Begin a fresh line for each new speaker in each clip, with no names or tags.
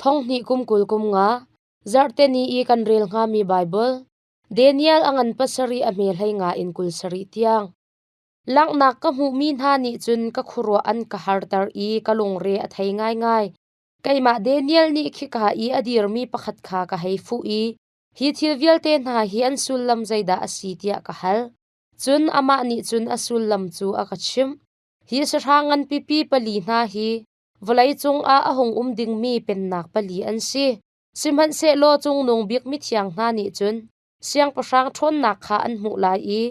Thonghnih kum kul kum nga zarhte ni i kan rel hngami Baibal Daniel a ngan pasarih a hmelhei nga in kul sarih tiang langhnak ka hmuhmi hna nih cun ka khuaruah an ka harter i ka lungre a thei ngaingai. Keimah Daniel nih khika i a dirmi pakhat kha ka hei fuh i hi thil vialte hna hi an sullam zeidah a si tiah ka hal. Cun amah nih cun a sullam cu a ka chimh. Hi sahrang ngan pipi pali hna hi Vawleicung ah a hung um dingmi pennak pali an si, sihmanhsehlaw Cungnung Bik Mithiang hna nih cun siangpahrang ṭhawnnak kha an hmuh lai i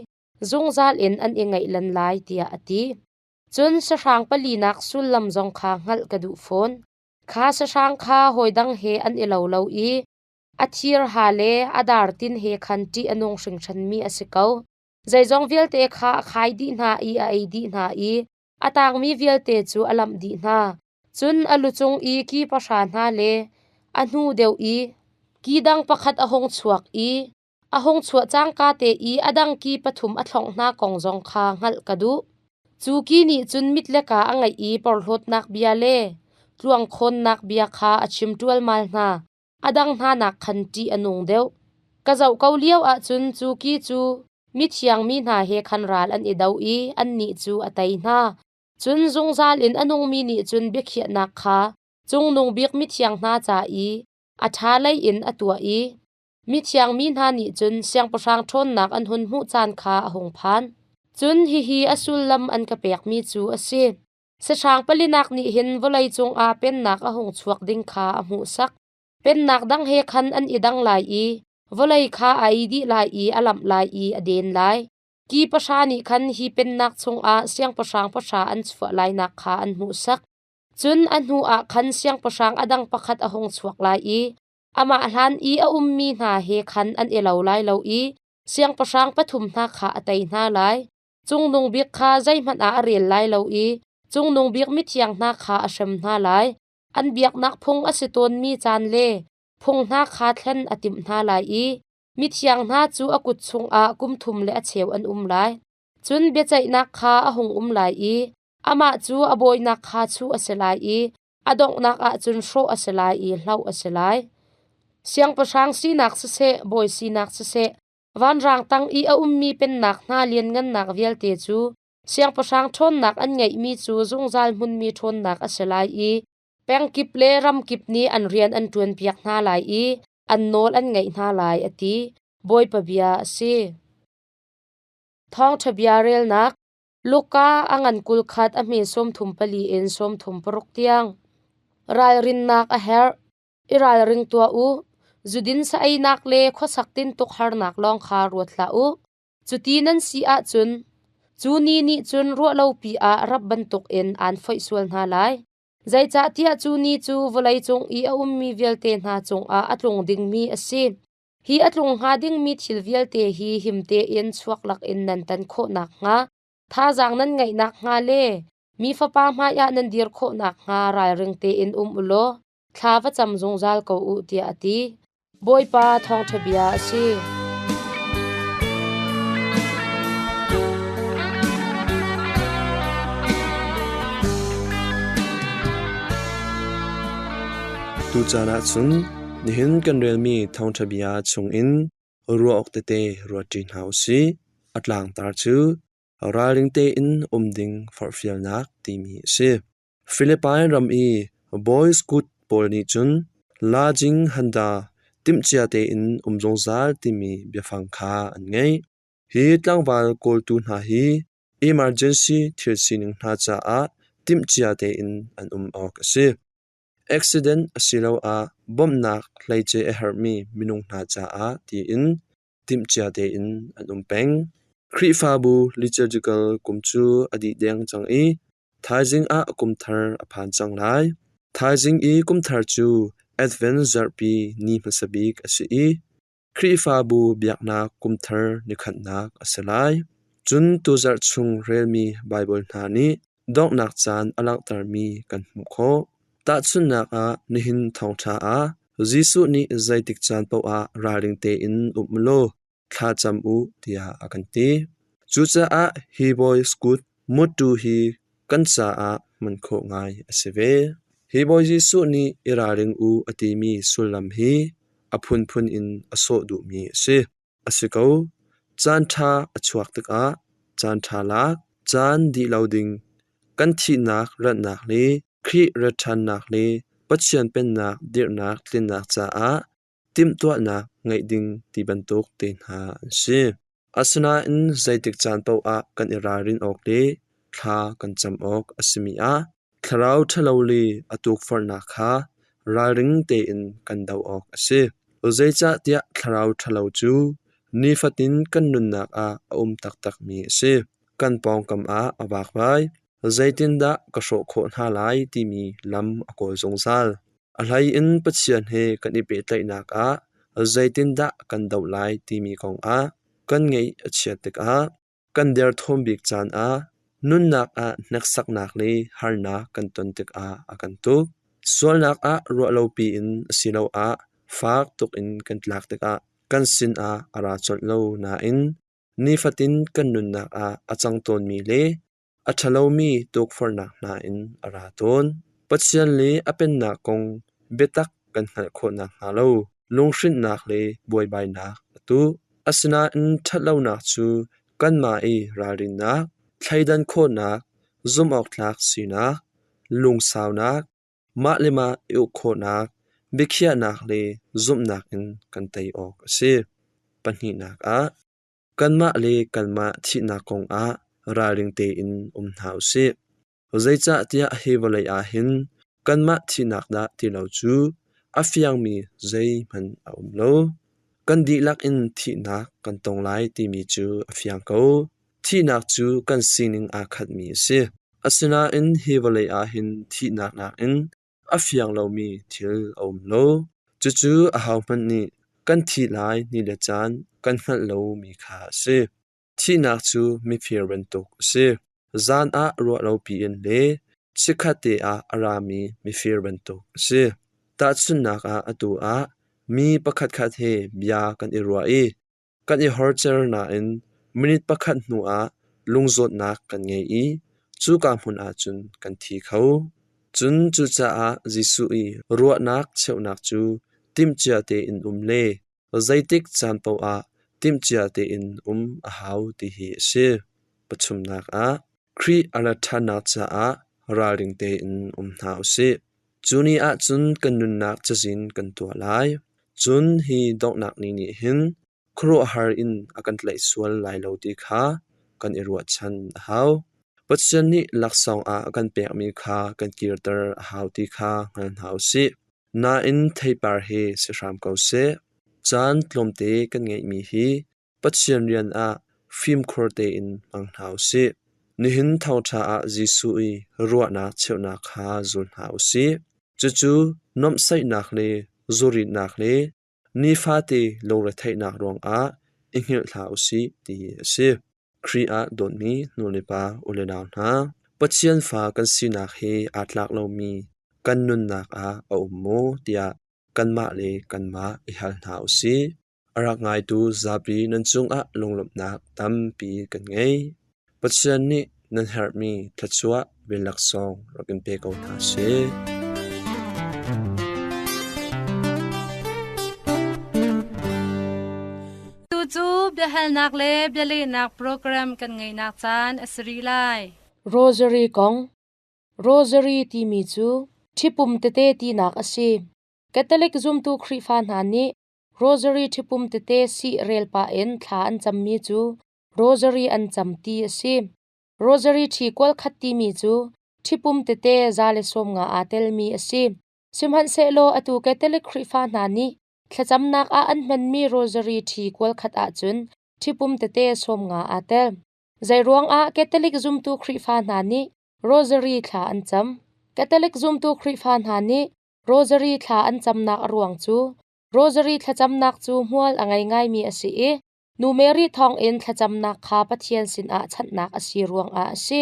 zungzal in an i ngaihlan lai, tiah a ti. Cun sahrang palinak sullam zong kha hngalh ka duh fawn. Kha sahrang kha hawidang he an i lo lo i a thirha le a dartin he khan ṭih a nung hringhranmi a si ko. Zeizong vialte kha a khai dih hna i a ei dih hna i A tangmi vialte cu a lamh dih hna. Cun a lu cung i ki pahra hna le a hnu deuh i ki dang pakhat a hung chuak i a hung chuah cangka te i a dang ki pathum a thlongh hna kong zong kha hngalh ka duh. Cu ki nih cun mit le kaa a ngeih i porhlawtnak bia le tluangkhawnnak bia kha a chim ṭualmal hna. a dang hnanak khan ṭih a nung deuh. Ka zoh ko lio ahcun cu ki cu mithiang mi hna he khan ral an i do i annih cu a tei hna. Cun zungzal in a nungmi nih cun biakhiahnak kha Cungnung Bik mithiang hna ca i a ṭha lei in a tuah i mithiang mi hna nih cun siangpahrang ṭhawnnak an hun hmuh caan kha a hung phan. Cun hihi a sullam an ka pekmi cu a si: Sahrang palinak nih hin vawlei cungah Pennak a hung chuak ding kha a hmuhsak. Pennak dang he khan an i dang lai i vawlei kha a ei dih lai i a lamh lai i a den lai. Ki pahra nih khan hi Pennak chungah siangpahrang pahra an chuah lainak kha an hmuhsak. Cun a hnuah khan siangpahrang a dang pakhat a hung chuak lai i amah hlan i a ummi hna he khan an i lo lai lo i siangpahrang pathum hna kha a tei hna lai. Cungnung bik kha zeihmanh ah a rel lai lo i Cungnung Bik mithiang hna kha a hrem hna lai. An biaknak phung a si tawnmi caan le phung hna kha thlen a timh hna lai i mithiang hna cu a kut chungah kum thum le a cheu an um lai. Cun biaceihnak kha a hung um lai i amah cu a bawinak kha chuh a si lai i a donghnak ahcun hrawh a si lai i hloh a si lai. Siangpahrang sinak siseh, bawi sinak siseh, Vanrang tang i a ummi pennak hna lianngannak vialte cu siangpahrang ṭhawnnak an ngeihmi cu zungzal hmunmi ṭhawnnak a si lai i pengkip le ramkip nih an rian an ṭuanpiak hna lai i an nawl an ngaih hna lai, a ti. Bawipa bia a si. Thawngṭha bia relnak Luka a ngan kul khat a hme sawmthum pali in sawmthum paruk tiang ralrinnak a herh. i ralring tuah u. Zudin sa-einak le khuasak tintuk harnak lawng kha ruat hlah u. Cuti nan si ahcun cu ni nih cun ruahlopi ah rap bantukin aan foih sual hna lai. Zeicahtiah cu ni cu vawleicung i a ummi vialte hna cungah a tlung dingmi a si. Hi a tlung hnga dingmi thil vialte hi him tein chuak lakin nan tan khawh nakhnga, thazaang nan ngeih nakhnga le mi Fapa hmaiah nan dir khawh nakhnga ralring tein um u law, Thla va cam zungzal ko u tiah a ti. Bawipa thawngṭha bia a si.
Tuchan ah cun nihin kan relmi thawngṭha bia chungin ruah awk tete ruatṭi hna u sih. A tlangtar cu ralring tein um ding forhfialnak timi a si. Philippine ram i boys kut pawl nih cun La Jing Handa timhcia tein um zungzal timi biafang kha an ngeih. Hi tlangval kawltu hna hi emergency thil sining hna caah timhcia tein an um awk a si. Accident asiloah bawmhnak hleice a herhmi minung hna caah tiin timhcia tein an um peng. Khrihfabu liturgical kum cu a dih deng cang i thaizing ah kumthar a phan cang lai. Thaizing i kumthar cu Advent zarhpi ni hmasa bik a si i Khrihfabu biaknak kumthar ni khatnak a si lai. Cun tu zarh chung relmi Baibal hna nih Donghnak caan a langhtermi kan hmuh khawh. Tahchunhnak ah, nihin thawngṭha ah Jesuh nih zeitik caan paohah ralring tein um u law thlacam u tiah a kan ti. Cucaah hi bawi kut mutṭu hi kan caah hman khawh ngai a si ve. Hi Bawi Jesuh nih i ralring u a timi sullam hi a phunphun in a sawh duhmi a si. A si ko. Caan ṭha a chuak tikah caan ṭha lak, caan dih lo ding, kan thihnak ratnak le Khrih rat ṭhannak le Pathian Pennak dirhnak tlinnak caah timhtuahnak ngeih ding ti bantuk te hna an si. Asinain zeitik caan paoh ah kan i ralrin awk le thla kan cam awk a simi ah Thlarau ṭhalo le a tukforhnak kha ralring tein kan doh awk a si. Zeicahtiah thlarau ṭhalo cu nifatin kan nunnak ah a um taktakmi a si. Kan pawngkam ah a vakvai, zeitindah ka hrawh khawh hna lai timi lam a kawl zungzal. A hlei in Pathian he kan i pehtlaihnak ah zeitindah kan doh lai timi kongah kan ngaih a chiat tikah Kan derthawm bik caan ah nunnak ah hneksaknak le harnak kan ton tikah a kan tuk. Sualnak ah ruah lopi in asiloah fak tuk in kan tlak tikah kan sinah a ra colh lo nain nifatin kan nunnak ah a cang tawnmi le A ṭhalomi tukforhnak hna in a ra tawn. Pathian le a Pennak kong biatak kan hngalh khawh nakhnga lo lunghrinhnak le buaibainak a tuah. Asinain ṭhatlonak cu kanmah i ralrinnak, thleidan khawhnak, zumhawktlak sinak, lungsaunak, mah le mah i uk khawhnak, biakhiahnak le zumhnak in kan tei awk a si. Pahnihnak ah, Kanmah le kanmah thihnak kongah ralring tein um hna u sih. Zeicahtiah hi vawlei ah hin kanmah thihnak dah ti lo cu a fiangmi zeihmanh a um lo. Kan dihlak in thihnak kan tong lai timi cu a fiang ko. Thihnak cu kan sining aa khatmi a si. Asinain hi vawlei ah hin thihnak nakin a fiang lomi thil a um lo. Cucu ahohmanh nih kan thih lai ni le caan kan hngalh lomi kha a si. Thihnak cu mifir bantuk a si. Zan ah ruah lopi in le chikkhatte ah a rami mifir bantuk a si. Tahchunhnak ah atu ah mi pakhatkhat he bia kan i ruah i Kan i horcer nain minute pakhat hnuah lungzawtnak kan ngei i cuka hmun ah cun kan thi kho. Cun cucaah Jesuh i ruahnak cheuhnak cu timhcia tein um le zeitik caan paoh ah timhcia tein um a hau ti hi a si. Pathumnak ah, Khrih a rat ṭhannak caah ralring tein um hna u sih. Cu ni ah cun kan nunnak cazin kan tuah lai. Cun hi donghnak ni nih hin khuaruahhar in a kan tlaih sual lai lo ti kha kan i ruahchan a hau. Pathian nih laksawng ah a kan pekmi kha kan kirter a hau ti kha hngal hna u sih. Nain theipar he si hram ko seh. Caan tlawmte kan ngeihmi hi Pathian rian ah fimkhur tein hmang hna u sih. Nihin thawṭha ah Jesuh i ruahnak cheuhnak kha zul hna u sih. Cucu nuamhsaihnak le zuritnak le nifate lungretheihnak ruangah i hngilh hlah u sih ti a si. Khrih ah dawtmi nu le pa u le nau hna, Pathian fa kan sinak he aa tlak lomi kan nunnak ah a um maw tiah kanmah le kanmah i hal hna u sih. A rak ngaitu zapi nan cungah lunglawmhnak tampi kan ngei. Pathian nih nan herhmi thluachuah ve laksawng rak in pe ko hna sih.
Tucu biahalnak le bialehnak program kan ngeinak caan a si rih lai. Rosary
kong Rosary timi cu ṭhipum tete tinak a si. Catholic zumtu Khrihfa hna nih Rosary ṭhipum tete sih rel pah in thla an cammi cu rosary an cam ti a si. Rosary ṭhi kual khat timi cu ṭhipum tete za le sawm nga aa telmi a si. Sihmanhsehlaw atu Catholic Khrihfa hna nih thlacamnak ah an hmanmi rosary ṭhi kual khat ahcun ṭhipum tete sawm nga aa tel. Zeiruangah Catholic zumtu Khrihfa hna nih rosary thla an cam? Catholic zumtu Khrihfa hna nih Rosary thla an camnak a ruang cu Rosary thlacamnak cu hmual a ngei ngaimi a si i Nu Mary thawngin thlacamnak kha Pathian sinah chanhnak a si ruangah a si.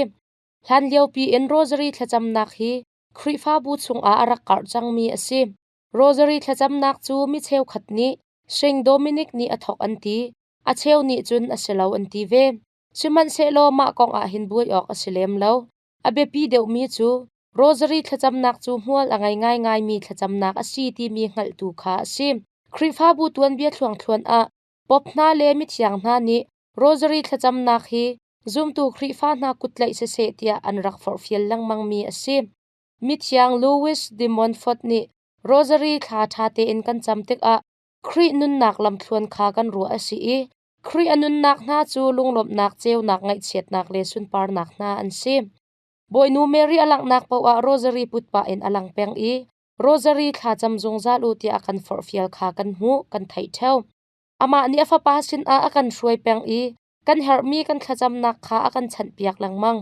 Hlanlio piin Rosary thlacamnak hi Khrihfabu chungah a rak karh cangmi a si. Rosary thlacamnak cu mi cheukhat nih Saint Dominic nih a thawk an ti, a cheu nih cun a si lo an ti ve. Sihmanhsehlaw mah kongah hin buai awk a si lem lo. A biapi deuhmi cu rosary thlacamnak cu hmual a ngei ngaingaimi thlacamnak a si timi hngalhtu kha a si. Khrihfabu tuanbia thluangthluan ah Pope hna le mithiang hna nih rosary thlacamnak hi zumtu Khrihfa hna kut tlaih siseh tiah an rak forhfial lengmangmi a si. Mithiang Louis de Montfort nih rosary thla ṭha tein kan cam tikah Khrih nunnak lamthluan kha kan ruah a si i Khrih a nunnak hna cu lunglawmhnak, ceunak, ngaihchiatnak le sunparnak hna an si. Bawinu Mary a langhnak paoh ah rosary put pah in a lang peng i rosary thlacam zungzal u tiah a kan forhfial kha kan hmuh, kan theih ṭheo. Amah nih a Fapa sinah a kan hruai peng i kan herhmi kan thlacamnak kha a kan chanhpiak lengmang.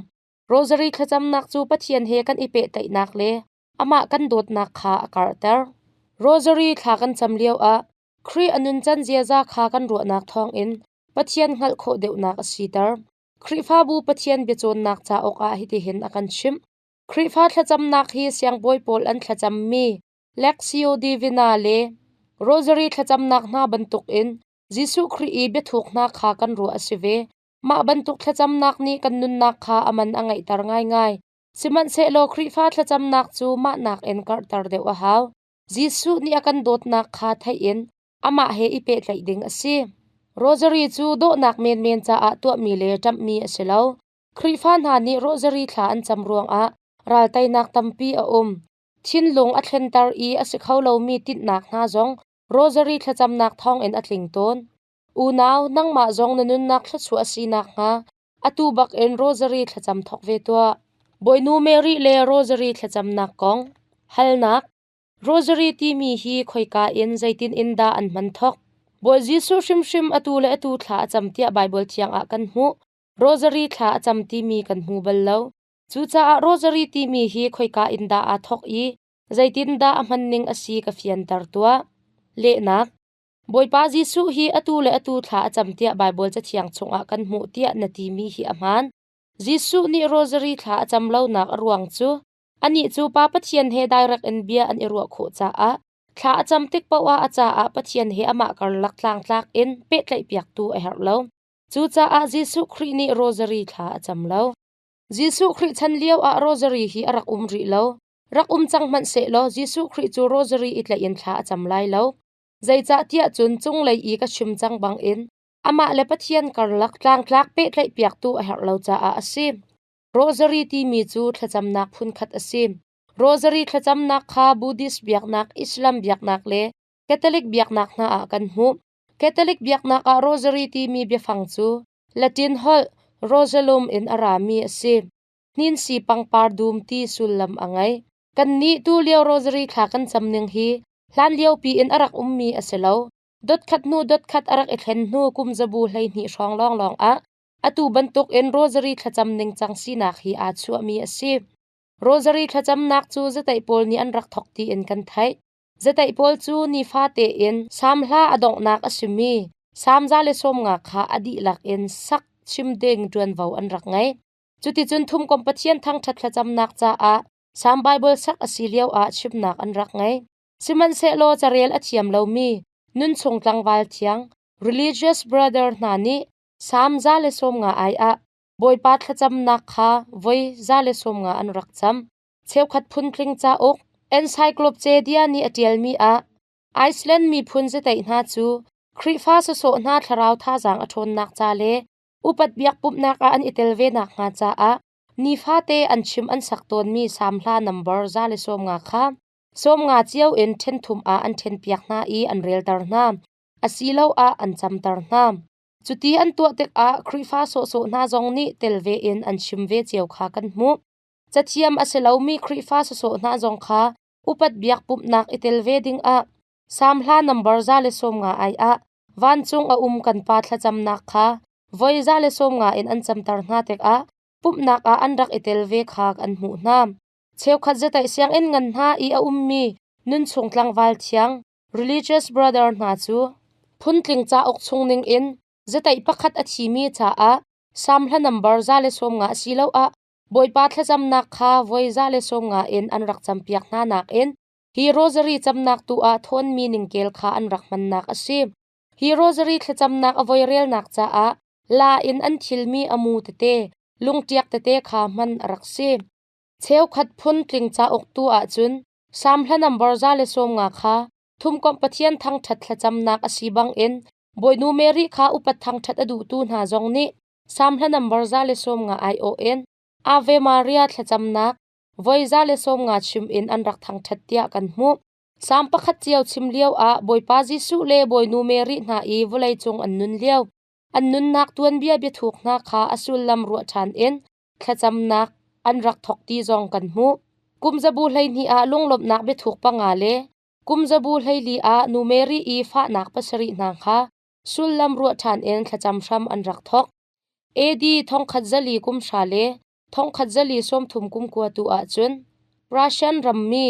Rosary thlacamnak cu Pathian he kan i pehtlaihnak le amah kan dawtnak kha a karhter. Rosary thla kan cam lioah Khrih a nuncan ziaza kha kan ruahnak thawngin Pathian hngalh khawh deuhnak a siter. Khrihfabu Pathian biacawnnak cauk ah hitihin a kan chimh. Khrihfa thlacamnak hi siangbawi pawl an thlacammi Lectio Divina le Rosary thlacamnak hna bantukin Jesuh Khrih i biathuknak kha kan ruah a si ve. Mah bantuk thlacamnak nih kan nunnak kha a man a ngeihter ngaingai. Sihmanhsehlaw Khrihfa thlacamnak cu mah nakin karhter deuh a hau. Jesuh nih a kan dawtnak kha theih in amah he i pehtlaih ding a si. Rosary cu dawhnak menmen caah tuahmi le ṭamhmi a si lo. Khrihfa hna nih rosary thla an cam ruangah ralteinak tampi a um. Thinlung a thlenter i a si kho lomi tinhnak hna zong rosary thlacamnak thawngin a tling tawn. Unau, nangmah zong na nunnak thluachuah a si nakhnga atu bakin rosary thlacam thawk ve tuah. Bawinu Mary le rosary thlacamnak kong halnak Rosary timi hi khoika in zeitin in dah an hman thawk? Bawi Jesuh hrimhrim atu le atu thla a cam tiah Baibal thiangah kan hmuh. Rosary thla a cam timi kan hmu bal lo. Cucaah rosary timi hi khoika in dah aa thawk i zeitin dah a hman ning a si ka fianter tuah. Lehnak Bawipa Jesuh hi atu le atu thla a cam tiah Baibal cathiang chungah kan hmuh tiah na timi hi a hmaan. Jesuh nih Rosary thla a cam lonak a ruang cu anih cu Pa Pathian he direct in bia an i ruah khawh caah thla a cam tik paohah a caah Pathian he amah karlak tlangtlak in pehtlaihpiaktu a herh lo. Cucaah Jesuh Khrih nih Rosary thla a cam lo. Jesuh Khrih chan lioah Rosary hi a rak um rih lo. Rak um cang hmanhsehlaw Jesuh Khrih cu Rosary i tlaih in thla a cam lai lo. Zeicahtiah cun cunglei i ka chim cang bangin amah le Pathian karlak tlangtlak pehtlaihpiaktu a herh lo caah a si. Rosary timi cu thlacamnak phunkhat a si. Rosary thlacamnak kha Buddhist biaknak, Islam biaknak le Catholic biaknak hna ah kan hmuh. Catholic biaknak ah rosary timi biafang cu Latin holh rosalum in a rami a si. Ninsi pangpar dum ti sullam a ngei. Kannih tulio rosary thla kan cam ning hi hlanlio piin a rak ummi a si lo. Dotkhat hnu dotkhat a rak i thlen hnu kumzabu hleihnih hrawng lawnglawng ah atu bantukin rosary thlacam ningcang sinak hi aa chuahmi a si. Rosary thlacamnak cu zataih pawl nih an rak thawk tiin kan theih. Zataih pawl cu nifate in Salm hla a donghnak a simi Salm za le sawmnga kha a dihlak in sak chim ding ṭuanvo an rak ngei. Cuticun Thumkomh Pathian thangṭhat thlacamnak caah Salm Baibal sak a si lioah chimnak an rak ngei. Sihmanhsehlaw carel a thiam lomi nunchung tlangval thiang religious brother hna nih Salm za le sawmnga ai ah Bawipa thlacamnak kha voi za le sawmnga an rak cam. Cheukhat phun-tling cauk Encyclopedia nih a ṭialmi ah Iceland miphun ziteih hna cu Khrihfa sawsawh hna thlarau thazaang a ṭhawnnak ca le Upat biak pumhnak ah an i tel ve nakhnga caah nifate an chim an sak tawnmi samhla nambar za le sawmnga kha sawmnga cio in ṭhen thum ah an ṭhenpiak hna i an relter hna asiloah an camter hna. Cuti an tuah tikah Khrihfa sawhsawh hna zong nih tel ve in an chim ve cio kha kan hmuh. Cathiam a si lomi Khrihfa sawsawh hna zong kha upat biak pumhnak i tel ve dingah Samhla nambar za le sawmnga ai ah vancung a um kan pa thlacamnak kha voi za le sawmnga in an camter hna tikah pumhnak ah an rak i tel ve kha an hmuh hna. Cheukhat zataih sianginn ngan hna i a ummi nunchung tlangval thiang religious brother hna cu phungtling cauk chungning in zataih pakhat a thimi caah samhla nambar za le sawmnga asiloah Bawipa thlacamnak kha voi za le sawmnga in an rak campiak hna nakin Hi rosary camnak tu ah thawnmi ningkel kha an rak hmannak a si. Hi rosary thlacamnak a voirelnak caah la in an thilmi a mu tete, lungṭiak tete kha hman a rak si. Cheukhat phun tling cauk tu ahcun Salm hla nambar za le sawmnga kha Thumkomh Pathian thangṭhat thlacamnak a si bangin Bawinu Mary kha upat thangṭhat a duhtu hna zong nih Salm hla nambar za le sawmnga aiawh in Ave Maria thlacamnak Voiza le sawmnga chim in an rak thangṭhat tiah kan hmuh. Salm pakhat cio chim lioah Bawipa Jesuh le Bawinu Mary hna i vawleicung an nun lio, an nunnak tuanbia biathuk hna kha a sullam ruah ṭhan in thlacamnak an rak thawk ti zong kan hmuh. Kumzabu hleihnih ah lunglawmhnak biathuk panga le kumzabu hleili ah nu Mary i fahnak pasarih hna kha sullam ruah ṭhan in thlacam hram an rak thawk. AD thongkhat zali kum hra le Thongkhat zali sawmthum kum kua tu ahcun Russian rammi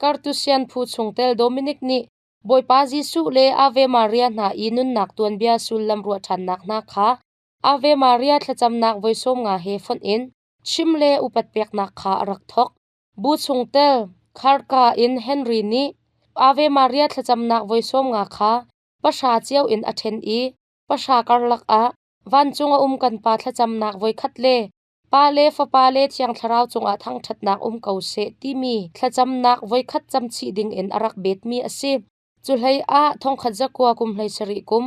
Kartusian phu chungtel Dominic nih Bawipa Jesuh le Ave Maria hna i nunnak tuanbia sullam ruah ṭhannak hna kha Ave Maria thlacamnak voi sawm nga he fonh in chim le upat peknak kha a rak thawk. Bu chungtel Kharka in Henry nih Ave Maria thlacamnak voi sawm nga kha pahra cio in a ṭhen i pahra karlak ah Vancung a um kan pa thlacamnak voikhat le pa le fapa le Thiang Thlarau cungah thangṭhatnak um ko seh timi thlacamnak voikhat camchih dingin a rak betmi a si. Cuhlei ah thongkhat zakua kum hlei sarih kum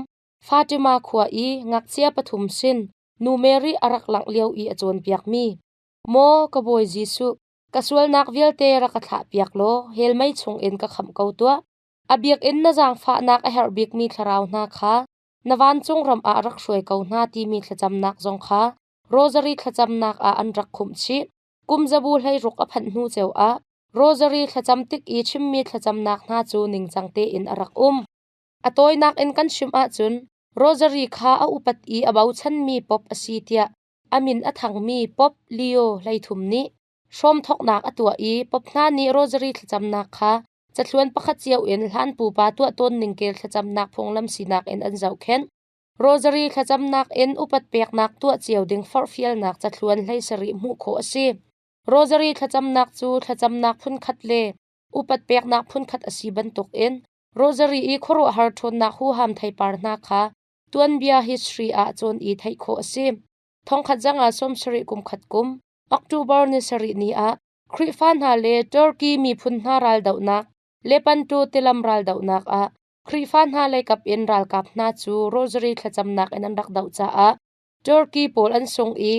Fatima khua i ngakchia pathum sin nu Mary a rak langh lio i a cawnpiakmi, Maw ka Bawi Jesuh, ka sualnak vialte rak ka thlahpiak law hell mei chungin ka khamh ko tuah. A biakinn na zaangfahnak a herh bikmi thlarau hna kha Na vancung ram ah rak hruai ko hna timi thlacamnak zong kha rosary thlacamnak ah an rak khumh chih. Kumzabu hleiruk a phanh hnu cio ah rosary thlacam tik i chimmi thlacamnak hna cu ningcang tein a rak um. A tawinak in kan chim ahcun rosary kha a upat i a bochanmi pop a si tiah a min a thangmi Pope Leo hleithum nih hrawmthoknak a tuah i Pope hna nih rosary thlacamnak kha Cathluan pakhat cio in hlan pupa tuah tawnning kel thlacamnak phunglam sinak in an zohkhenh. Rosary thlacamnak in upat peknak tuah cio ding forhfialnak cathluan hlei sarih hmuh khawh a si. Rosary thlacamnak cu thlacamnak phunkhat le upat peknak phunkhat a si bantukin Rosary i khuaruahhar ṭhawnnak huham theipar hna kha tuanbia history ahcun i theih khawh a si. Thongkhat zangah sawm sarih kum khat kum, October ni sarih ni ah Khrihfa hna le Turkey miphun hna raldohnak le Panto tilam raldohnak ah Khrihfa hna leikap in ralkap hna cu rosary thlacamnak in an rak doh caah Turkey pawl an sung i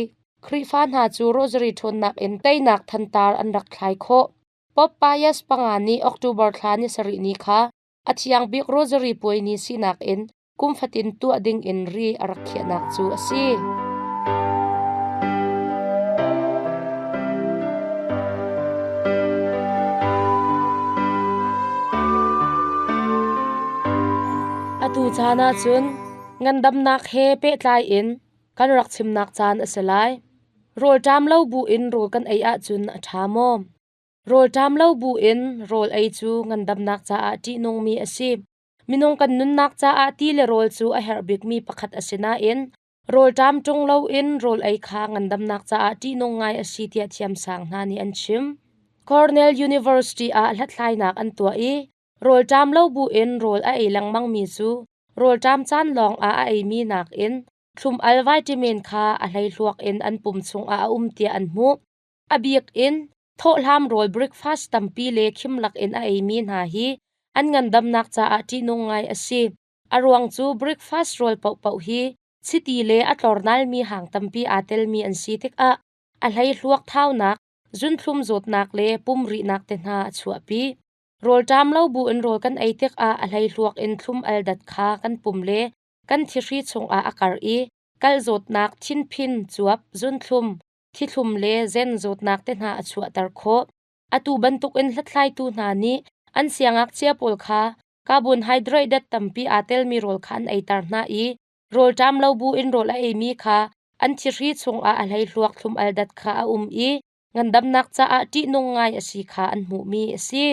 Khrihfa hna cu rosary ṭhawnnak in teinak thantar an rak thlai khawh. Pope Pius panga nih October thla ni sarih ni kha a thiang bik rosary puai ni sinak in Kum fatin tuah dingin ri a rak khiahnak cu a si. Atu caan ah cun ngandamnak he pehtlai in kan rak chimnak caan a si lai. Rawlṭam lo buin rawl kan ei ahcun a ṭha maw? Rawlṭam lo buin rawl ei cu ngandamnak caah ṭihnungmi a si. Minung kan nunnak caah ti le rawl cu a herh bikmi pakhat a si nain rawlṭam ṭung loin rawl ei kha ngandamnak caah ṭihnung ngai a si tiah thiamsang hna nih an chim. Cornell University ah hlathlainak an tuah i rawlṭam lo buin rawl a ei lengmangmi cu rawlṭam caan lawngah a eimi nakin thlum-al vitamin kha a hleihluak in an pum chungah a um tiah an hmuh. A bik in thawhhlam rawl breakfast tampi le khim lakin a eimi hna hi an ngandamnak caah ṭihnung ngai a si. A ruang cu breakfast rawl paohpaoh hi chiti le a tlornalmi hang tampi aa telmi an si tikah a hleihluak thaunak, zunthlum zawtnak le pum rihnak te hna a chuahpi. Rawlṭam lo buin rawl kan ei tikah a hleihluak in thlum aldat kha kan pum le kan thihri chungah a karh i kalh zawtnak, thinphin, cuap, zunthlum, Thlithlum le zen zawtnak te hna a chuahter khawh. Atu bantukin hlathlaitu hna nih an siangngakchia pawl kha carbohydrate tampi aa telmi rawl kha an eiter hna i rawlṭam lo buin rawl a eimi kha an thihri chungah a hleihluak thlum aldat kha a um i ngandamnak caah ṭihnung ngai a si kha an hmuhmi a si.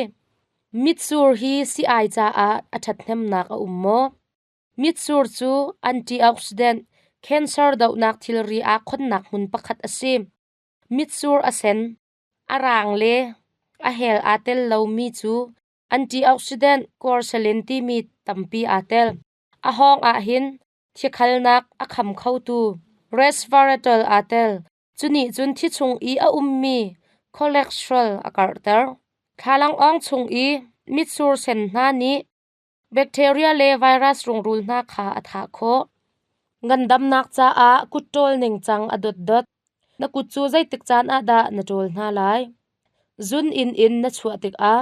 Mitsur hi si-ai caah a ṭhathnemnak a um maw? Mitsur cu antioxidant cancer dohnak thilri aa khonnak hmun pakhat a si. Mitsur a sen, a raang le a hel aa tel lomi cu antioxidant corselin timi tampi aa tel. A hawng ahhin thiakhalnak a kham khotu resveratrol aa tel. Cu nih cun thi chung i a ummi cholesterol a karhter. Thlalangawng chung i mitsur sen hna nih Bacteria le virus rungrul hna kha a thah khawh. Ngandamnak caah kut ṭawl ningcang a dotdot. Na kut cu zeitik caan ah dah na ṭawl hna lai? Zun inn in na chuah tikah,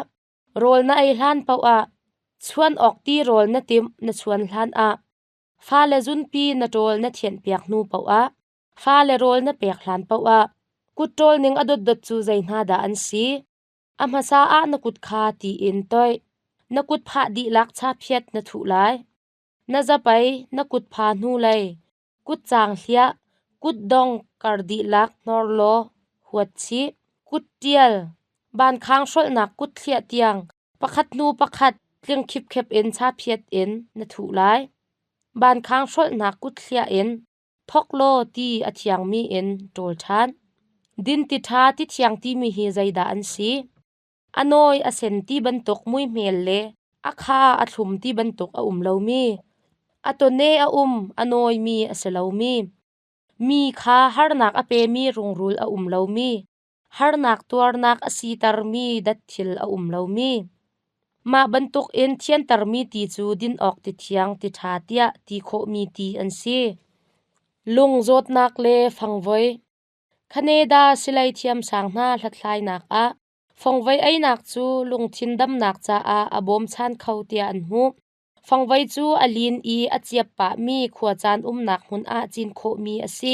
rawl na ei hlan paoh ah, chuan awk ti rawl na timh na chuan hlan ah, fale zunpi na ṭawl na thianhpiak hnu paoh ah, fale rawl na pek hlan paoh ah, kut ṭawl ning a dotdot cu zei hna dah an si? A hmasa ah na kut kha tiin toih. Na kut phah dihlak chaphiat na thuh lai. Na zapei na kut pha hnulei kutcaang hliah kut dong kar dihlak hnor law huat chih. Kut ṭial Vankhang hrolhnak kut thliah tiang pakhat hnu pakhat tling khipkhep in chaphiat in na thuh lai. Vankhang hrolhnak kut thliah in Thawk law ti a thiangmi in ṭawl ṭhan. Dinti ṭha ti thiang timi hi zeidah an si? A nawi a sen ti bantuk muihmel le a kha a thlum ti bantuk a um lomi, a tawne a um a nawimi a si lomi, mi kha harnak a pemi rungrul a um lomi, Harnak tuarnak a sitermi datthil a um lomi, mah bantukin thiantermi ti cu din awk tithiang tiṭha tiah ti khawhmi ti an si. Lung zawtnak le fangvoi, Canada silei thiamsang hna hlathlainak ah fangvoi einak cu lungthin damnak caah a bawmchan kho tiah an hmuh. Fangvoi cu a lin i a ciap pahmi khuacaan umnak hmun ah cin khawhmi a si.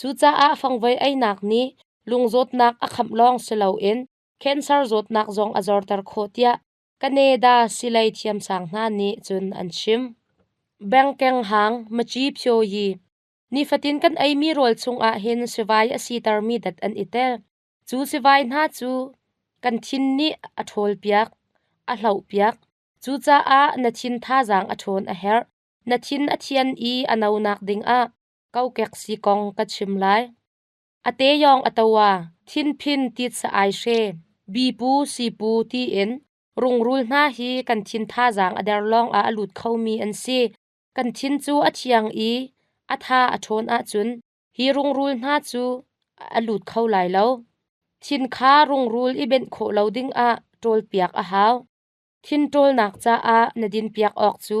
Cucaah fangvoi einak nih lungzawtnak a khamh lawng si loin cancer zawtnak zong a zorter khawh tiah Canada silei thiamsang hna nih cun an chim. Bengkeng hang maci phyoyi nifatin kan eimi rawl chungah hin sivai a sitermi dat an i tel. Cu sivai hna cu kan thin nih a ṭhawlpiak, a hlohpiak. Cucaah na thin thazaang a ṭhawn a herh. Na thin a thian i a nonak dingah kokek si kong ka chim lai. Ate yawng atowa thinphin tit sa ai she bipu sipu tiin rungrul hna hi kan thin thazaang a der lawng ah a lut khomi an si. Kan thin cu a thiang i a tha a ṭhawn ahcun hi rungrul hna cu a lut kho lai lo. Thin kha rungrul i benh khawh lo ding ah ṭawlpiak a hau. Thin ṭawlnak caah na dinpiak awk cu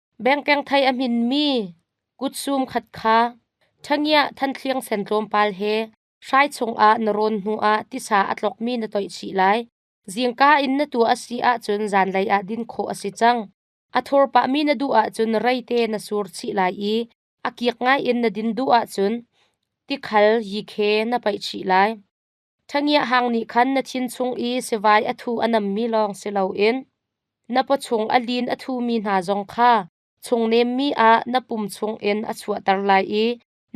Bengkeng thei a hminmi kutsum khat kha ṭhangiah Thantliang sen tlawmpal he hrai chungah na rawn hnuah tisa a tlokmi na toih chih lai. Zingka in na tuah a si ahcun zanlei ah din khawh a si cang. A thur pahmi na duh ahcun reite na sur chih lai i a kik ngaiin na din duh ahcun tikhal yikhe na paih chih lai. Ṭhangiahang nih khan na thin chung i sivai a thu a nammi lawng si loin na paw chung a lin a thumi hna zong kha chungnemmi ah na pum chungin a chuahter lai i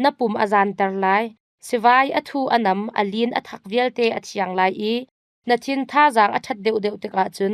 na pum a zanter lai. Sivai a thu a nam, a lin a thak vialte a thiang lai i na thin thazaang a ṭhat deuhdeuh tikah cun